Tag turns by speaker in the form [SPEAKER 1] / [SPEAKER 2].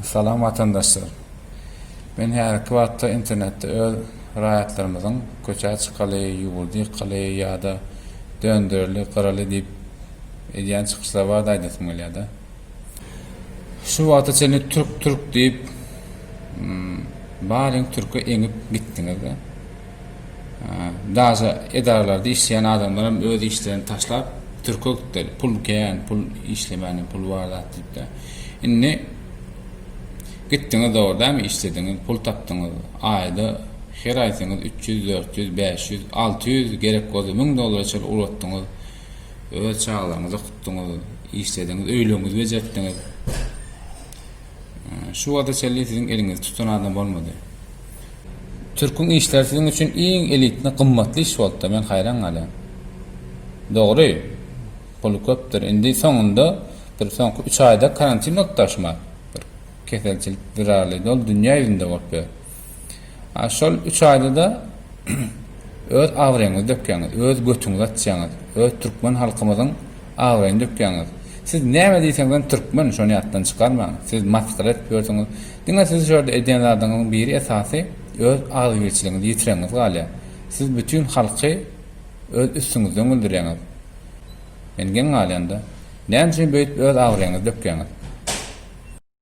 [SPEAKER 1] Salam watandaşlar! Men häzirki wagtda internetde öz raýatlarymyzyň köçä çykaly, ýurdy ýykaly ýa-da döndereli, gyraly diýip edýän çykyşlary barada aýdasym gelýär-de. Şu wagta çenli türk-türk diýip baryň türke eňip gitdiňiz-de. Daže edaralarda işleýän adamlaram öz işlerini taşlap türke gitdiler. Pul kän, pul işlemäne pul bar zat diýipde. Indi gitdiňiz dogry dämi işlediňiz, pul tapdyňyz. Aýda her aý seňiz 300, 400, 500, 600 gerek bolsa 1000 dollara çenli ulatdyňyz. Öz çagalaryňyzy okutdyňyz, işlediňiz, öýleriňizi bejertdiňiz. Şu wagta çenli siziň eliňizi tutan adam bolmady. Türküň işleri siziň üçin iň elitny, gymmatly iş bolupdyr. Men haýran galýan. Dogry, puly köpdür. Indi soňunda bir soňky üç aýda karantin bolup daşyma bir keselçilik zerarly dol dünýä ýüzünde bolup ýör. Şol üç aýda-da öz abraýyňyzy dökýäňiz, öz götüňizi açýaňyz, öz türkmen halkymyzyň abraýyny dökýäňiz. Siz näme diýseňizem türkmen, şony ýatdan çykarmaň. Siz masgara edip ýörsüňiz. Diňe sizi şu ýerde edýän zadyňyzyň biri esasy öz agzybirçiligiňizi ýitirenňiz galýar. Siz bütin halky öz üstüňizden güldürýäňiz. Men geň galýan-da. Näme üçin beýdip öz abraýyňyzy dökýäňiz?